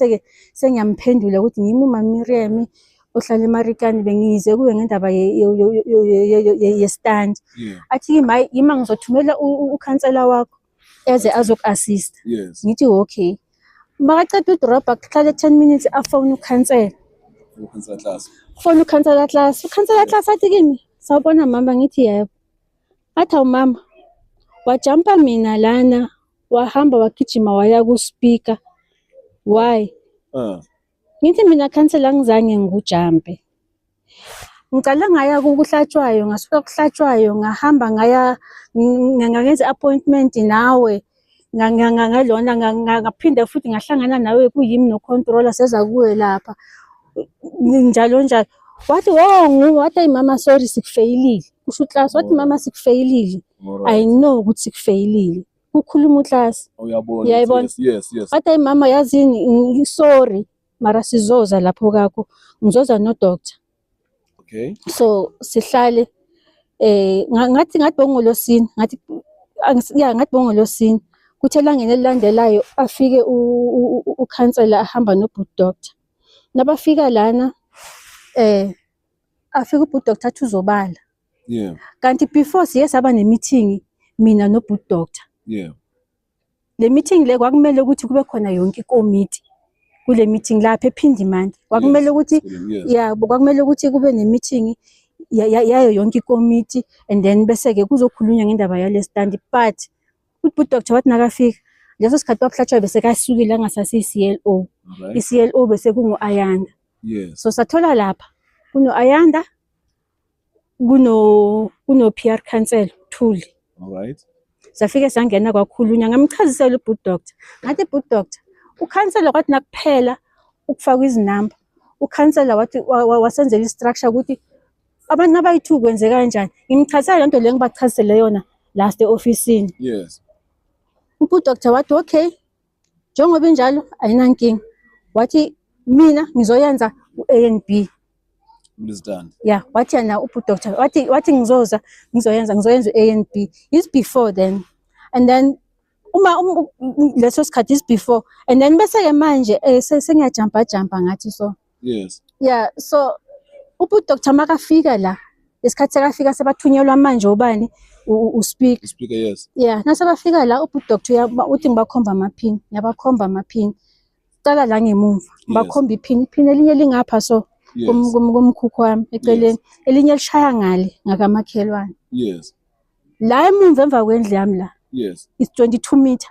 seke sengiyamphendula ukuthi yimi uMamiriam ohlala emarikani bengize kuwe ngendaba yestand athi yima yima ngizothumela ukhansela wakho eze azoku-assist ngithi okay makaceda udrobha kuhlale 10 minutes afone ukhansela fone ukhansela class ukhansela class athi kimi sawubona mama ngithi yebo athi awumama wajampa mina lana wahamba wagijima waya kuSpeaker why uh. ngithi mina khansela ngizange ngikujampe ngicale ngaya kuhlatshwayo ngasuka kuhlatshwayo ngahamba ngaya ngangenza appointment nawe ngalona ngaphinde futhi ngahlangana nawe kuyimi nocontroller seza kuwe lapha njalo njalo wathi wo oh, nguwe wathi ayi mama sorry sikufeyilile kusho uclass wathi mama sikufeyilile Alright. i know ukuthi kufeyilile kukhuluma uklasi Uyabona. Uyayibona? ukuthi Yes, yes, yes. but ayi mama yazi ngi- ngi- sorry mara sizoza lapho kakho ngizoza nodoctor Okay. so sihlale eh nga- ngathi ngathi bongolosini ngathi angis- ya ngathi bongolosini kuthe elangeni elilandelayo afike u- u- u- ukhansela ahamba nobut doctor nabafika lana eh afika ubut doctor athi uzobala yeah kanti before siye saba nemeeting mina no boot doctor yeah le meeting le kwakumele ukuthi kube khona yonke ikomiti kule meeting lapha ephindi manje kwakumele ukuthi yeah kwakumele ukuthi kube ne meeting yayo yonke ikomiti and then bese ke kuzokhulunywa ngendaba yale stand but uthi doctor wathi nakafika leso sikhathi wakuhlatshwa bese kasukile angasase i-CLO i-CLO bese kungu-Ayanda yes so sathola lapha kuno-Ayanda kuno kuno PR council Thuli all right zafike sangena kwakhulunywa ngamchazisela ubud doctor ngathi bud doctor ukhansela kwathi nakuphela ukufaka izinamba ukhansela wathi wasenzela istructure ukuthi abantu abayithu kwenzeka kanjani ngimchazisela lento le ngibachazisele yona last eoffice yes ubud doctor wathi okay njengoba injalo ayinankinga wathi mina ngizoyenza u-a n b ya wathi yena ubudoctor wathi wathi ngizoza ngizoyenza ngizoyenza u-a n b is before then and then uma um, leso sikhathi is before and then bese-ke manje um eh, sengiyajampa jampa ngathi so yes yeah so ubhuti doctor makafika la isikhathi sekafika sebathunyelwa manje ubani uspeak speaker yes yeah nasebafika la ubhuti doctor uthi ngibakhomba amaphini yabakhomba amaphini cala la ngemumva ngibakhomba iphini iphini elinye lingapha so kumkhukhu wami eceleni elinye lishaya ngale ngakamakhelwane yes la emumva emva kwendlu yami la yes it's 22 meter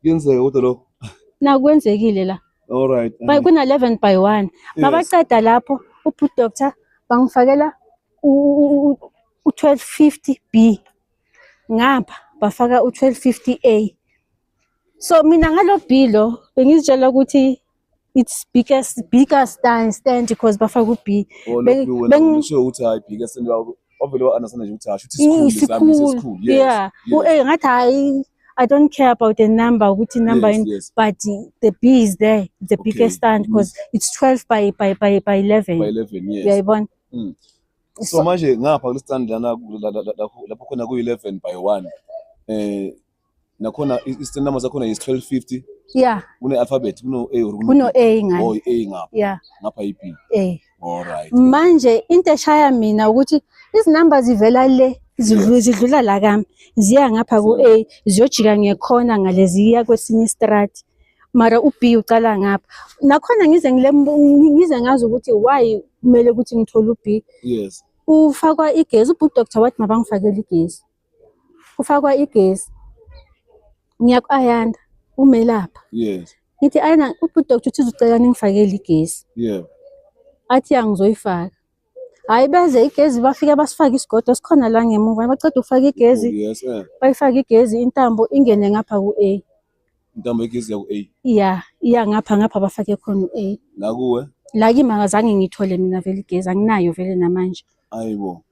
Kuyenzeka kodwa lokho. Nakwenzekile la. All right. By um, kuna 11 by 1. Mabaqeda lapho uphu doctor bangifakela u 1250 B. Ngapha bafaka u 1250 A. So mina ngalo B lo bengizitshela ukuthi it's biggest bigger stand stand because bafaka u B bengisho ukuthi hayi bigger stand ovele wa understand nje ukuthi hayi ukuthi isikhulu isikhulu yeah u A ngathi hayi I don't care about the number ukuthi number yes, in, yes. but the B is there the okay. biggest stand because mm. it's 12 by by by by 11 by 11 yes uyayibona mm. so, so manje ngapha kulestand lana lapho khona ku 11 by 1 eh nakhona i-stand number sakhona is 1250 yeah kune-alphabet kuno-a or kuno-a ngani oh, i-a ngapha yeah ngapha i-b eh alright manje into eshaya mina ukuthi izinumber zivela le zidlula zidlula la kami ziya ngapha ku-a ziyojika ngekhona ngaleziya kwesinye istrati mara u-b ucala ngapha nakhona ngize ngile ngize ngazi ukuthi why kumele ukuthi ngithole u-b yes ufakwa igezi ubhuti doctor wathi mabangifakele igezi kufakwa igesi ngiyaku-ayanda umelapha yes ngithi ayana udoktar uthi uzucela ningifakele igesi yeah athi angizoyifaka hayi beze igezi bafike basifake isigodo sikhona la ngemuva baceda ukufaka igezi oh, yes eh. bayifake igezi intambo ingene ngapha ku-a intambo igezi yaku-a iya iya ngapha ngapha bafake khona u-a la kuwe la kimi akazange ngithole mina vele igezi anginayo vele namanje ayibo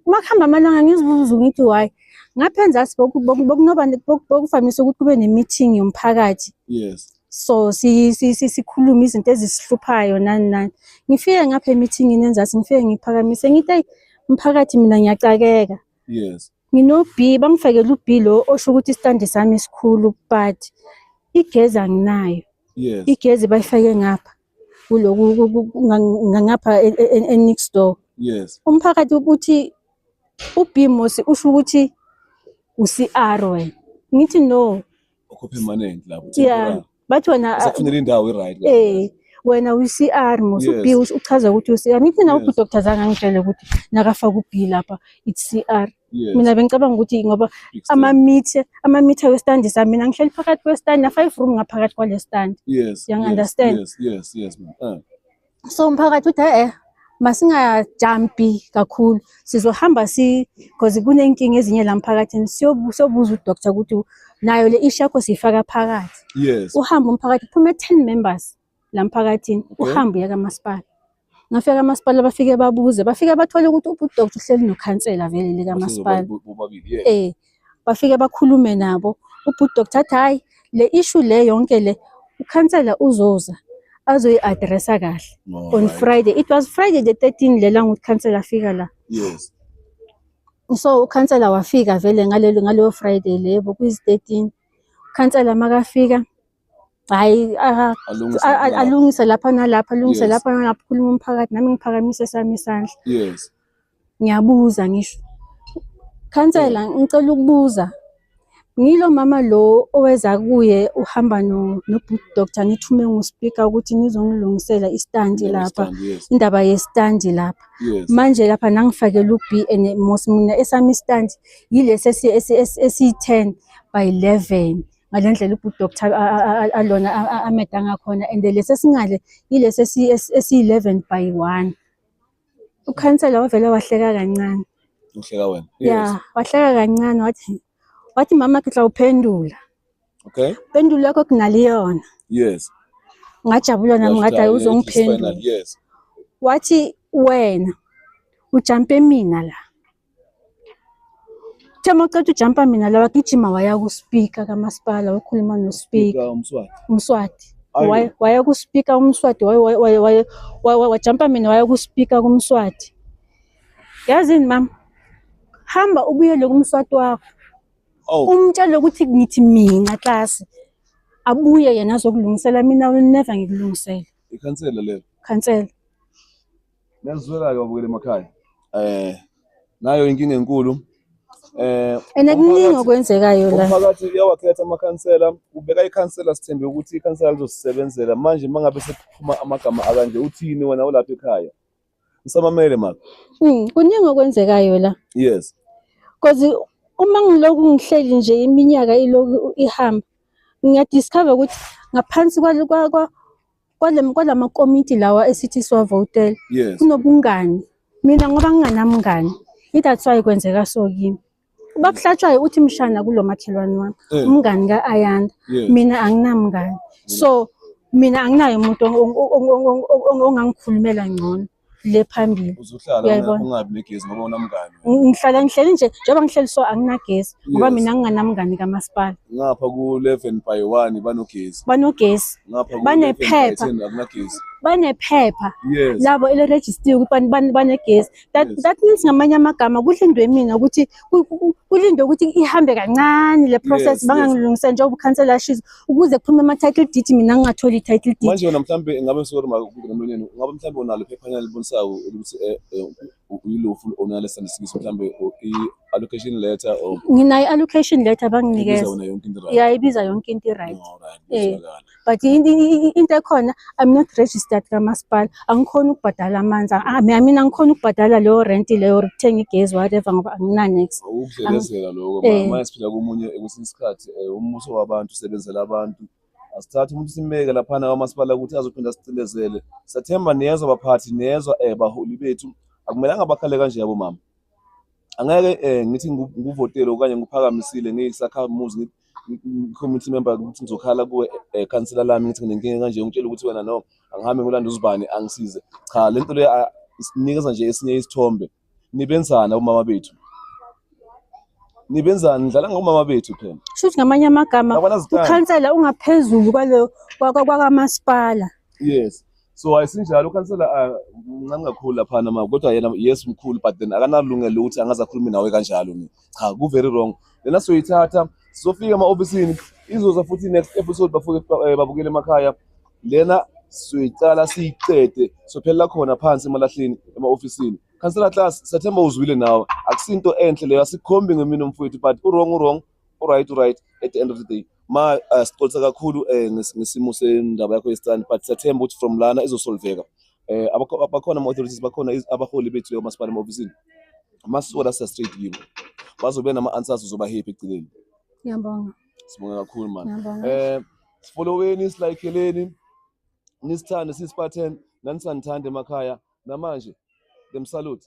makuhamba amalanga ngizibuza ngithi why ngapha enzasi bokuvamise ukuthi kube ne-meeting yomphakathi yes so sikhulume izinto ezisihluphayo nani nani ngifike ngapha emithingini enzasi ngifike ngiphakamise ngithi ayi mphakathi mina ngiyacakeka yes Ngino B bangifakela u B lo osho ukuthi istand sami isikhulu but igezi anginayo. Yes. Igezi bayifake ngapha kuloku ngapha e, e, e, next door. Yes. Umphakathi ubuthi u B Mosi usho ukuthi u CR wena. Ngithi no. Ukhuphe money lapho. Yeah. bathi wena ah, usafunela indawo i-right eh wena uyi-CR mos Yes. ubi uchaza ukuthi uyi-CR ngithi nawe Yes. udoctor zange angitshele ukuthi nakafaka ubi lapha it's CR Yes, mina bengicabanga ukuthi ngoba big step. amamithe amamitha westandi sami mina ngihleli phakathi kwestandi na-five room ngaphakathi kwale standi Yes, you yes, understand? yes, yes, yes, ma'am. Eh. so umphakathi uthi e-e masingajampi kakhulu sizohamba si because kunenkinga ezinye la mphakathini siyobuza udoctor ukuthi nayo le ishi yakho siyifaka phakathi yes uhamba umphakathi kuphume 10 members la mphakathini uhamba uya kamasipala ngafika kamasipala bafike babuze bafike bathole ukuthi ubudokotela uhleli nokhansela vele likamasipala eh bafike bakhulume nabo ubhuti doctor athi hhayi le issue le yonke le ukhansela uzoza azoyi-adressa kahle on friday it was friday the 13 lela ngukuthi khansela afika la yes so ukhansela wafika vele ngaleyo friday lebo kuyizi-13 ukhansela makafika hayi aka- Alungise a- a- lapho. alungise lapha nalapha alungise Yes. lapha nalapha ukhuluma umphakathi nami ngiphakamise sami isandla yes ngiyabuza ngisho khansela ngicela ukubuza ngilo mama lo oweza kuye uhamba no no doctor nithume nguspeaker ukuthi nizongilungisela istand lapha Understand, yes indaba yestand lapha yes manje lapha nangifakela u B and mos mina esami stand yilesi esi esi- esi- esi 10 by 11 ngale ndlela ubhuti doctor alona ameda ngakhona and lesi esingale yilesi esiyi-11 by one ukhansela wavele wahleka kancane uhleka wena ya wahleka kancane wathi wathi mama ke tla uphendula okay pendulo yakho kunaliyona yes ngajabula nami ngathi hayi uzongiphendula yes wathi wena ujampe mina la Uthe uma uceda ujampa mina la wagijima waya kuspika kamasipala wakhuluma nospika Fika umswati. umswati Ayo. Waya- waya kuspika umswati waya- waya- waya- waya- waya- wajampa mina waya kuspika kumswati yazini mama hamba ubuyele kumswati wakho Oh, umtshele ukuthi ngithi mina klasi abuye yena azokulungisela mina will never ngikulungisele ikhansela lelo. khansela Niyazwela-ke babukeli emakhaya. Eh nayo inkinga enkulu. Eh And kuningi umphakathi- okwenzekayo la. Umphakathi uyawakhetha amakhansela, ubeka ikhansela sithembe ukuthi ikhansela lizosisebenzela. Manje mangabe sekuphuma amagama akanje uthini wena ulapha ekhaya? Ngisamamele maka. Mm, kuningi okwenzekayo la. Yes. Cause uma ngiloku ngihleli nje iminyaka iloku ihamba ngiyadiscover ukuthi ngaphansi kwalo- kwa- kwa- kwala makomiti lawa esithi siwavotele yes. kunobungani mina ngoba nginganamngani i-that's why kwenzeka so kimi bakuhlatshwayo uthi mshana kulo makhelwane wami eh. umngani ka-ayanda yes. mina anginamngani so mina anginayo umuntu ongangikhulumela ngcono le phambili uzohlala Uyayibona. ungabi negezi ngoba unamngane Ng- ngihlala ngihleli nje njengoba ngihleli so anginagesi ngoba Yes. mina nginganamngani kamasipala ngapha ku-11 by 1 banogezi banogesi ngapha ku-11 by Banephepha. 10 akunagezi banephepha yes labo elirejistiwe ukuthi ban- ban- banegesi that, Yes. that means ngamanye amagama kudla indwemina ukuthi kulinde ukuthi ihambe kancane le process yes, bangangilungisa yes. njengoba ukhansela ashizo ukuze kuphume ama-title deed mina ngingatholi i-title deed manje wena mhlawumbe ngabe sori makunomlonyeni ngabe mhlawumbe unalo iphephanyana libonisayo ukuthi eh, eh, uyilofu onale sandisikisi mhlawumbe i-allocation letter or nginayo i-allocation letter banginikeza ya ibiza yonke into i-right um but into ekhona i'm not registered kamasipala angikhoni ukubhadala amanzi mina angikhoni ukubhadala leyo rent leyo ukuthenga igezi whatever ngoba anginanex ukudlelezela lokho eh. manje siphila komunye kwesinye isikhathi eh, umbuso wabantu usebenzela abantu asithathe umuntu simbeke laphana kwamasipala ukuthi azophinda sicindezele sathemba niyezwa baphathi niyezwa um baholi bethu akumelanga bakhale kanje yabo mama angeke eh ngithi nguvotele okanye ngiphakamisile ngiyisakhamuzi committee member ukuthi ngizokhala kuwe eh, councillor lami ngithi nginenkinga kanje ungitshela ukuthi wena no angihambe ngolanda uzibani angisize cha le nto le isinikeza nje esinye isithombe nibenzana umama bethu nibenzani nidlala ngomama bethu phela shuthi ngamanye amagama ukhansela ungaphezulu kwalo kwakamasipala yes so ayisinjalo ukhansela ah, mncane kakhulu laphana ma kodwa yena yes mkhulu but then akanalungelo lokuthi angaze akhulume nawe kanjalo ni cha ku-very wrong lena siyoyithatha sizofika ema-ofisini izoza futhi next episode bafuke eh, babukele emakhaya lena siyoyiqala siyiqede sophelela khona phansi emalahleni ema-ofisini khansela class siyathemba uzwile nawe akusinto enhle leyo asikhombi ngemini omfowethu but urong urong Alright, alright. At the end of the day, ma uh, sicolisa kakhulu eh ngesimo sendaba yakho yesitani but siyathemba ukuthi from lana izosolveka. Eh abakhona ama authorities bakhona abaholi bethu leyo masipala ma office. Masisola sa straight kibo. Bazobe nama answers uzoba happy eceleni. Ngiyabonga. Sibonga kakhulu man. Eh sifolloweni silayikeleni nisithande sisiphatheni nanisandithande emakhaya namanje them salute